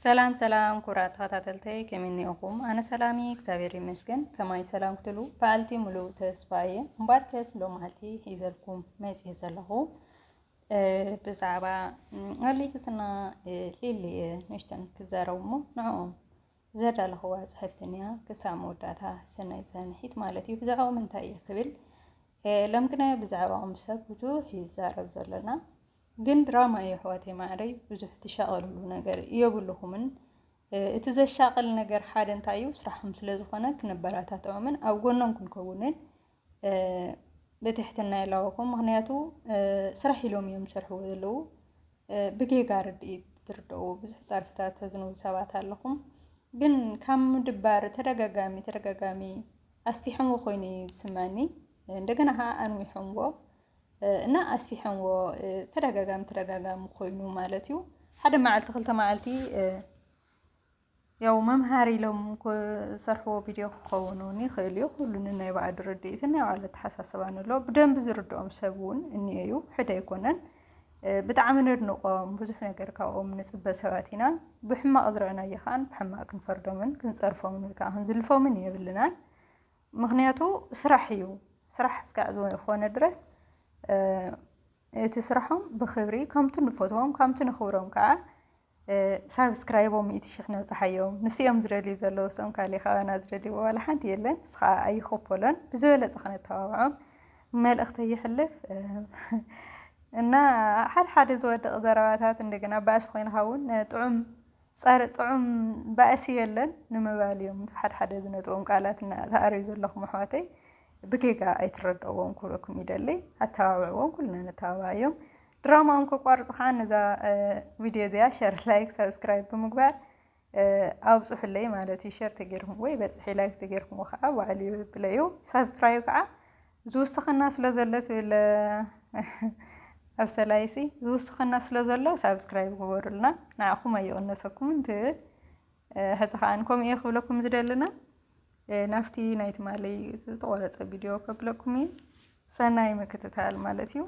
ሰላም ሰላም ኩብራት ተኸታተልተይ ከመይ እኒኦኹም? ኣነ ሰላም እየ እግዚኣብሔር ይመስገን። ከማይ ሰላም ክትሉ በዓልቲ ሙሉእ ተስፋ እየ እምበር ከስ ሎማዓልቲ ሒዘልኩም መፅየ ዘለኹ ብዛዕባ ኣሌክስና ሊሊ እየ ንእሽተን ክዛረቡ እሞ ንዕኦም ዘዳለኽዋ ፅሕፍትን እያ ክሳብ መወዳእታ ሰናይ ዝሰንሒት ማለት እዩ። ብዛዕባኦም እንታይ እየ ክብል ሎም ግና ብዛዕባኦም ሰብ ብዙሕ ይዛረብ ዘሎና ግን ድራማ እዩ ኣሕዋተይ ማዕረይ ብዙሕ ትሻቐልሉ ነገር የብልኹምን። እቲ ዘሻቕል ነገር ሓደ እንታይ እዩ ስራሕም ስለዝኾነ ክነበራታትዖምን ኣብ ጎኖም ክንከውንን ብትሕትና የላወኹም። ምክንያቱ ስራሕ ኢሎም እዮም ዝሰርሕዎ ዘለዉ ብጌጋ ርድኢት ትርድኡ ብዙሕ ጸርፍታት ተዝንቡ ሰባት ኣለኹም። ግን ካብ ምድባር ተደጋጋሚ ተደጋጋሚ ኣስፊሖምዎ ኮይኑ እዩ ዝስመዐኒ እንደገና ከዓ ኣንዊሖምዎ እና ኣስፊሐንዎ ተደጋጋሚ ተደጋጋሚ ኮይኑ ማለት እዩ ሓደ መዓልቲ ክልተ መዓልቲ ያው መምሃሪ ኢሎም ዝሰርሕዎ ቪድዮ ክኸውን እውን ይኽእል እዩ ኩሉን ናይ ባዕሉ ርድኢትን ናይ ባዕሉ ኣተሓሳስባን ኣሎ ብደንቢ ዝርድኦም ሰብ እውን እኒኦ እዩ ሕደ ኣይኮነን ብጣዕሚ ነድንቖም ብዙሕ ነገር ካብኦም ንፅበ ሰባት ኢና ብሕማቕ ዝረአናዮ ከዓን ብሕማቕ ክንፈርዶምን ክንፀርፎምን ወይ ከዓ ክንዝልፎምን የብልናን ምክንያቱ ስራሕ እዩ ስራሕ እስካዕ ዝኾነ ድረስ እቲ ስራሖም ብክብሪ ከምቲ ንፈትዎም ከምቲ ንክብሮም ከዓ ሳብስክራይቦም ሚእቲ ሽሕ ነብፅሓዮም ንስኦም ዝደልዩ ዘለዉ ሰም ካልእ ካባና ዝደልይዎ ዋላ ሓንቲ የለን ንሱ ከዓ ኣይኸፈሎን ብዝበለፀ ክነተባብዖም መልእኽተ ይሕልፍ እና ሓደ ሓደ ዝወደቕ ዘረባታት እንደገና ባእሲ ኮይንካ እውን ጥዑም ጸረ ጥዑም ባእሲ የለን ንምባል እዮም እቲ ሓድሓደ ዝነጥቦም ቃላት እና ትኣርዩ ዘለኹም ኣሕዋተይ ብጌጋ ኣይትረድእዎም ክብለኩም ይደሊ ኣተባብዕዎም ኩልና ነተባብዓዮም ድራማኦም ከቋርጹ ከዓ ነዛ ቪድዮ እዚኣ ሸር ላይክ ሰብስክራይብ ብምግባር ኣብፁሑለይ ማለት እዩ ሸር ተገይርኩምዎ ይበፅሕ ላይክ ተገይርኩምዎ ከዓ ባዕሉ ይብለዩ ሳብስክራይብ ከዓ ዝውስኸና ስለ ዘሎ ትብል ኣብ ሰላይሲ ዝውስኸና ስለ ዘሎ ሳብስክራይብ ግበሩልና ንዓኹም ኣይቕነሰኩምን ትብል ሕዚ ከዓን ከምኡ እየ ክብለኩም ዝደልና ናብቲ ናይ ትማሊ ዝተቆረፀ ቪድዮ ከብለኩም እዩ ሰናይ ምክትታል ማለት እዩ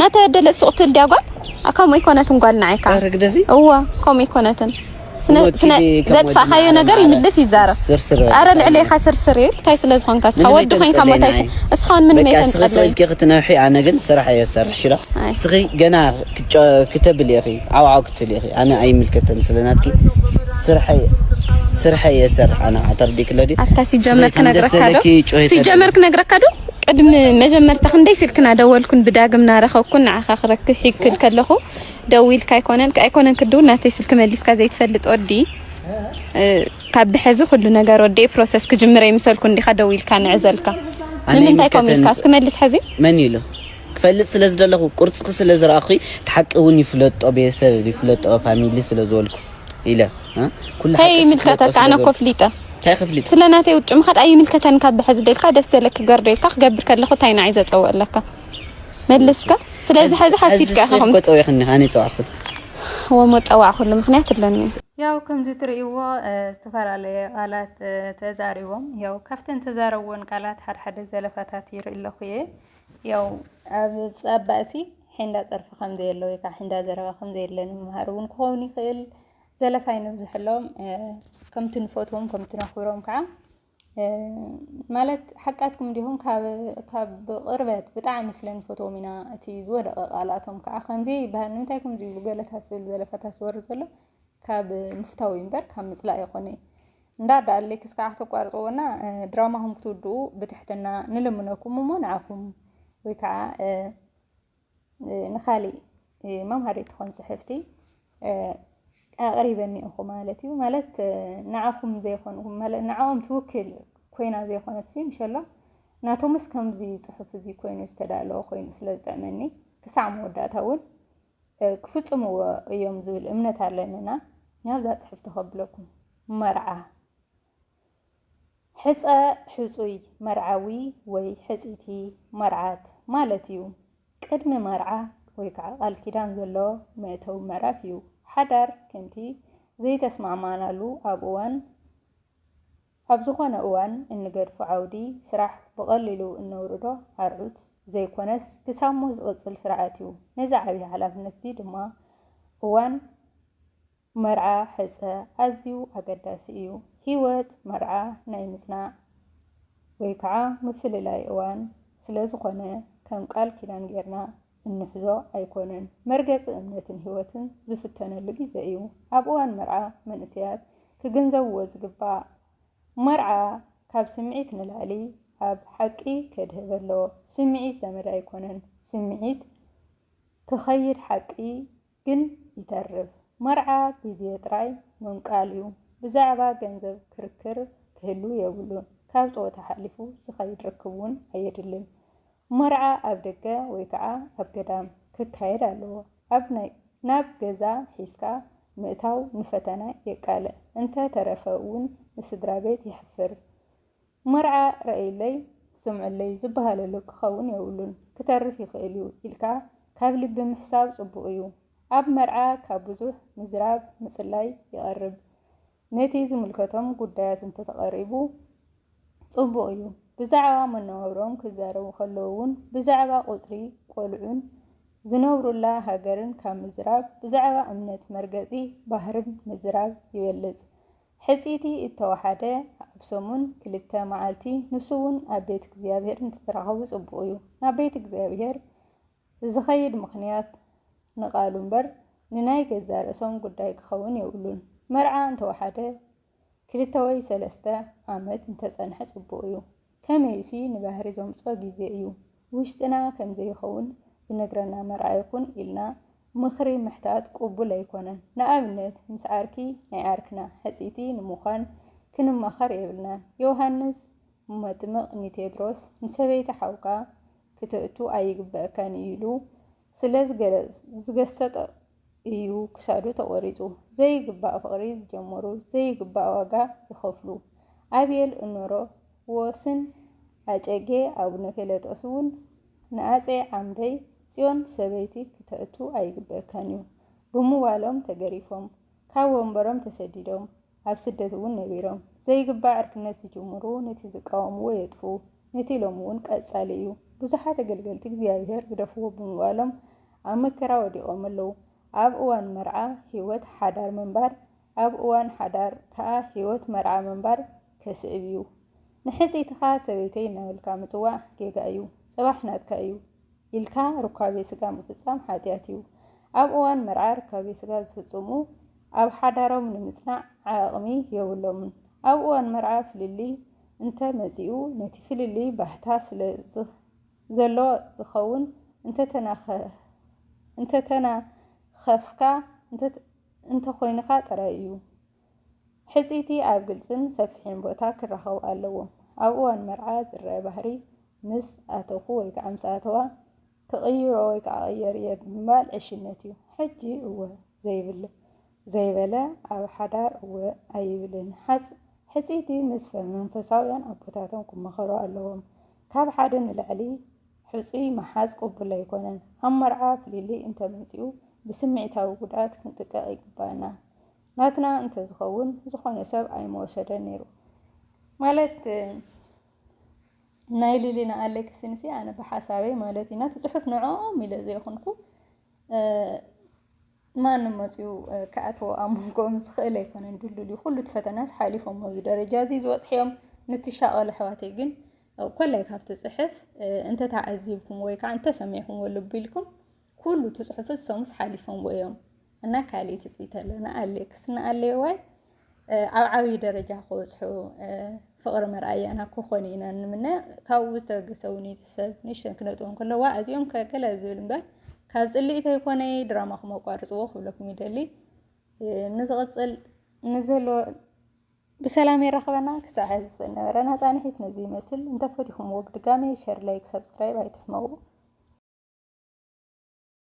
ናተ ደለ ሱቅትል ዲያጓል ኣካሙ ይኮነትን ጓል ንዓይካ ርግደፊ እዋ ኮሙ ይኮነትን ዘጥፋእካዮ ነገር ይምልስ ይዛረብ ኣረ ልዕሌካ ስርስር ይብል እንታይ ስለ ዝኾንካ እስኻ ወዲ ኮንካ ሞታይ እስኻ ውን ምንም የተንጸለልኪ ክትነውሒ ኣነ ግን ስራሕ እየ ዝሰርሕ ሽራ እስኺ ገና ክተብል ኢኺ ዓውዓው ትልኢኺ ኣነ ኣይምልከተን ስለ ናትኪ ስርሐይ ስርሐይ እየ ዝሰርሕ ኣነ ኣተርዲኪ ለዲ ኣታ ሲጀመር ክነግረካ ዶ ሲጀመር ክነግረካ ዶ ቅድሚ መጀመርታ ክንደይ ስልክና ደወልኩን ብዳግም ናረኸብኩን ንዓኻ ክረክ ሒክል ከለኹ ደዊልካ ኣይኮነን ኣይኮነን ክድውል ናተይ ስልኪ መሊስካ ዘይትፈልጥ ወዲ ካብ ብሐዚ ኩሉ ነገር ወዲ ፕሮሰስ ክጅምረ ይምሰልኩ እንዲኻ ደዊልካ ንዕዘልካ ንምንታይ ኮም ኢልካ እስኪ መልስ ሐዚ መን ኢሉ ክፈልጥ ስለ ዝደለኹ ቁርፅኺ ስለ ዝረኣኹ እቲ ሓቂ እውን ይፍለጦ ቤተሰብ ይፍለጦ ፋሚሊ ስለ ዝበልኩ ኢለ ኩሉ ሓቂ ይምልከተካ ኣነ እኮ ፍሊጠ እንታይ ክፍሊጥ ስለ ናተይ ውጭ ምኻድ ኣይምልከተን ካብ ብሕዚ ደልካ ደስ ዘለክ ገርዶ ኢልካ ክገብር ከለኹ እንታይ ንዓይ ዘፀውዕ ኣለካ መልስካ ስለዚ ሕዚ ሓሲድካ ኢኹም ፀዊዕክኒ ኣነ ፀዋዕኩ ወሞ ፀዋዕኩሉ ምክንያት ኣለኒ ያው ከምዚ ትርእይዎ ዝተፈላለየ ቃላት ተዛሪቦም ያው ካብተን ተዛረብዎን ቃላት ሓድሓደ ዘለፋታት ይርኢ ኣለኹ እየ ያው ኣብ ኣብ ባእሲ ሒንዳ ጸርፊ ከም ዘየለ ወይ ከዓ ሒንዳ ዘረባ ከም ዘየለ ንምምሃር እውን ክኸውን ይኽእል ዘለፋ ይነብዝሐሎም ከምቲ ንፈትዎም ከምቲ ነኽብሮም ከዓ ማለት ሓቃትኩም እንዲኹም ካብ ካብ ብቕርበት ብጣዕሚ ስለ ንፈትዎም ኢና እቲ ዝወደቐ ቃላቶም ከዓ ከምዚ ይበሃል ንምንታይ ከምዚ ይብሉ ገለታት ዝብል ዘለፋታት ዝወርድ ዘሎ ካብ ምፍታው እዩ እምበር ካብ ምጽላእ ኣይኮነይ እንዳ ዳኣ ሌክስ ከዓ ተቋርፅዎና ድራማኹም ክትውድኡ ብትሕትና ንልምነኩም እሞ ንዓኹም ወይ ከዓ ንካሊእ መምሃሪ ትኾን ፅሕፍቲ ኣቕሪበኒ እኹ ማለት እዩ ማለት ንዓኹም ዘይኮኑ ንዓኦም ትውክል ኮይና ዘይኮነት ሲ ምሸሎ ናቶምስ ከምዚ ፅሑፍ እዚ ኮይኑ ዝተዳለወ ኮይኑ ስለ ዝጥዕመኒ ክሳዕ መወዳእታ እውን ክፍጽምዎ እዮም ዝብል እምነት ኣለንና ናብዛ ጽሕፍቲ ከብለኩም መርዓ ሕፀ ሕፁይ መርዓዊ ወይ ሕፅይቲ መርዓት ማለት እዩ ቅድሚ መርዓ ወይ ከዓ ቃል ኪዳን ዘሎ መእተዊ ምዕራፍ እዩ ሓዳር ከምቲ ዘይተስማዕማዕናሉ ኣብ እዋን ኣብ ዝኾነ እዋን እንገድፎ ዓውዲ ስራሕ ብቐሊሉ እነውርዶ ኣርዑት ዘይኮነስ ክሳብ ሞት ዝቕጽል ስርዓት እዩ። ነዚ ዓብይ ሓላፍነት'ዚ ድማ እዋን መርዓ ሕጸ ኣዝዩ ኣገዳሲ እዩ። ህይወት መርዓ ናይ ምጽናዕ ወይ ከዓ ምፍልላይ እዋን ስለዝኾነ ከም ቃል ኪዳን ጌርና እንሕዞ ኣይኮነን። መርገጺ እምነትን ህይወትን ዝፍተነሉ ግዜ እዩ። ኣብ እዋን መርዓ መንእሰያት ክግንዘብዎ ዝግባእ፣ መርዓ ካብ ስምዒት ንላዕሊ ኣብ ሓቂ ከድህብ ኣለዎ። ስምዒት ዘመድ ኣይኮነን። ስምዒት ክኸይድ ሓቂ ግን ይተርፍ መርዓ ግዜ ጥራይ ምምቃል ዩ ብዛዕባ ገንዘብ ክርክር ክህሉ የብሉን ካብ ጸወታ ሓሊፉ ዝከይድ ርክብ ውን ኣየድልን መርዓ ኣብ ደገ ወይ ከኣ ኣብ ገዳም ክካየድ ኣለዎ ኣብ ናይ ናብ ገዛ ሒዝካ ምእታው ንፈተና የቃልዕ እንተ ተረፈ ውን ንስድራቤት የሕፍር መርዓ ረኣዩለይ ስምዑለይ ዝበሃለሉ ክኸውን የብሉን ክተርፍ ይኽእል እዩ ኢልካ ካብ ልቢ ምሕሳብ ጽቡቕ እዩ። ኣብ መርዓ ካብ ብዙሕ ምዝራብ ምጽላይ ይቐርብ። ነቲ ዝምልከቶም ጉዳያት እንተተቐሪቡ ጽቡቕ እዩ። ብዛዕባ መነባብሮኦም ክዛረቡ ከለዉ እውን ብዛዕባ ቁጽሪ ቆልዑን ዝነብሩላ ሃገርን ካብ ምዝራብ ብዛዕባ እምነት መርገጺ ባህርን ምዝራብ ይበልጽ። ሕጽይቲ እተዋሓደ ኣብ ሰሙን ክልተ መዓልቲ ንሱውን ኣብ ቤት እግዚኣብሔር እንትትራኸቡ ጽቡቅ እዩ ናብ ቤት እግዚኣብሔር ዝኸይድ ምኽንያት ንቃሉ እምበር ንናይ ገዛ ርእሶም ጉዳይ ክኸውን የብሉን መርዓ እንተዋሓደ ክልተ ወይ ሰለስተ ዓመት እንተጸንሐ ጽቡቅ እዩ ከመይሲ ንባህሪ ዘምጽኦ ግዜ እዩ። ውሽጥና ከም ዘይኸውን ዝነግረና መርኣይ ኩን ኢልና ምኽሪ ምሕታት ቅቡል ኣይኮነን። ንኣብነት ምስ ዓርኪ ናይ ዓርክና ሕጽይቲ ንምዃን ክንማኸር የብልናን። ዮውሃንስ መጥምቕ ንቴድሮስ ንሰበይቲ ሓውካ ክተእቱ ኣይግበኣካን እዩ ኢሉ ስለ ዝገሰጦ እዩ ክሳዱ ተቖሪፁ። ዘይግባእ ፍቕሪ ዝጀመሩ ዘይግባእ ዋጋ ይኸፍሉ። ኣብየል እኖሮ ወስን ኣጨጌ ኣቡነ ፌለጦስ እውን ንኣፀይ ዓምደይ ፅዮን ሰበይቲ ክተእቱ ኣይግበእካን እዩ ብምባሎም ተገሪፎም ካብ ወንበሮም ተሰዲዶም። ኣብ ስደት እውን ነቢሮም ዘይግባእ ዕርክነት ዝጅምሩ ነቲ ዝቃወምዎ የጥፍኡ ነቲ ኢሎም እውን ቀጻሊ እዩ ብዙሓት ኣገልገልቲ እግዚኣብሔር ግደፍዎ ብምባሎም ኣብ መከራ ወዲቖም ኣለዉ ኣብ እዋን መርዓ ህይወት ሓዳር ምንባር ኣብ እዋን ሓዳር ከኣ ህይወት መርዓ ምንባር ከስዕብ እዩ ንሕጽይትኻ ሰበይተይ እናበልካ ምጽዋዕ ጌጋ እዩ ጽባሕ ናትካ እዩ ኢልካ ሩካቤ ስጋ ምፍጻም ሓጢኣት እዩ። ኣብ እዋን መርዓ ርካቤ ስጋ ዝፍጽሙ ኣብ ሓዳሮም ንምጽናዕ ዓቕሚ የብሎምን። ኣብ እዋን መርዓ ፍልልይ እንተ መጺኡ ነቲ ፍልልይ ባህታ ስለ ዘሎ ዝኸውን እንተተናኸፍካ እንተኾይንካ ጥራይ እዩ። ሕጽይቲ ኣብ ግልጽን ሰፊሕን ቦታ ክራኸቡ ኣለዎም። ኣብ እዋን መርዓ ዝረኣ ባህሪ ምስ ኣተኹ ወይ ከዓ ምስ ኣተዋ ክቕይሮ ወይ ከዓ ቀየር እየ ብምባል ዕሽነት እዩ። ሕጂ እወ ዘይብል ዘይበለ ኣብ ሓዳር እወ ኣይብልን። ሓጽ ሕጽይቲ ምስ መንፈሳውያን ኣቦታቶም ክመኸሩ ኣለዎም። ካብ ሓደ ንላዕሊ ሕጹይ ምሓዝ ቅቡል ኣይኮነን። ኣብ መርዓ ፍልልይ እንተመጺኡ ብስምዒታዊ ጉድኣት ክንጥቀቕ ይግባእና። ናትና እንተዝኸውን ዝኾነ ሰብ ኣይምወሰደን ነይሩ ማለት ናይ ሊሊና ኣሌክስን ሲ ኣነ ብሓሳበይ ማለት ኢና ትፅሑፍ ንዕኦም ኢለ ዘይኮንኩ ማንም መፅኡ ክኣትዎ ኣብ መንጎኦም ዝኽእል ኣይኮነን ድልድል እዩ ኩሉ እቲ ፈተናስ ሓሊፎም ኣብዚ ደረጃ እዚ ዝበፅሕዮም ንትሻቐሉ ኣሕዋተይ ግን ኮላይ ካብቲ ፅሕፍ እንተተዓዚብኩም ወይ ከዓ እንተሰሚዕኩም ልቢ ኢልኩም ኩሉ ትጽሑፍ ሰሙስ ሓሊፎምዎ እዮም እና ካልእ ትጽቢት ኣሎ ንኣሌ ክስ ንኣሌ ዋይ ኣብ ዓብዪ ደረጃ ክበጽሑ ፍቕሪ መርኣያና ክኾኑ ኢና ንምነ ካብኡ ዝተበገሰ እውን እቲ ሰብ ንእሽተን ክነጥቦም ከለዋ ኣዚኦም ከገለ ዝብል እምበር ካብ ፅልኢት ኣይኮነ ድራማኹም ኣቋርፅዎ ክብለኩም ይደሊ ንዝቕፅል ንዘሎ ብሰላም የራኽበና ክሳዕ ሕዚ ዝነበረና ፃንሒት ነዚ ይመስል እንተፈቲኹምዎ ብድጋሜ ሸር ላይክ ሰብስክራይብ ኣይትሕመቁ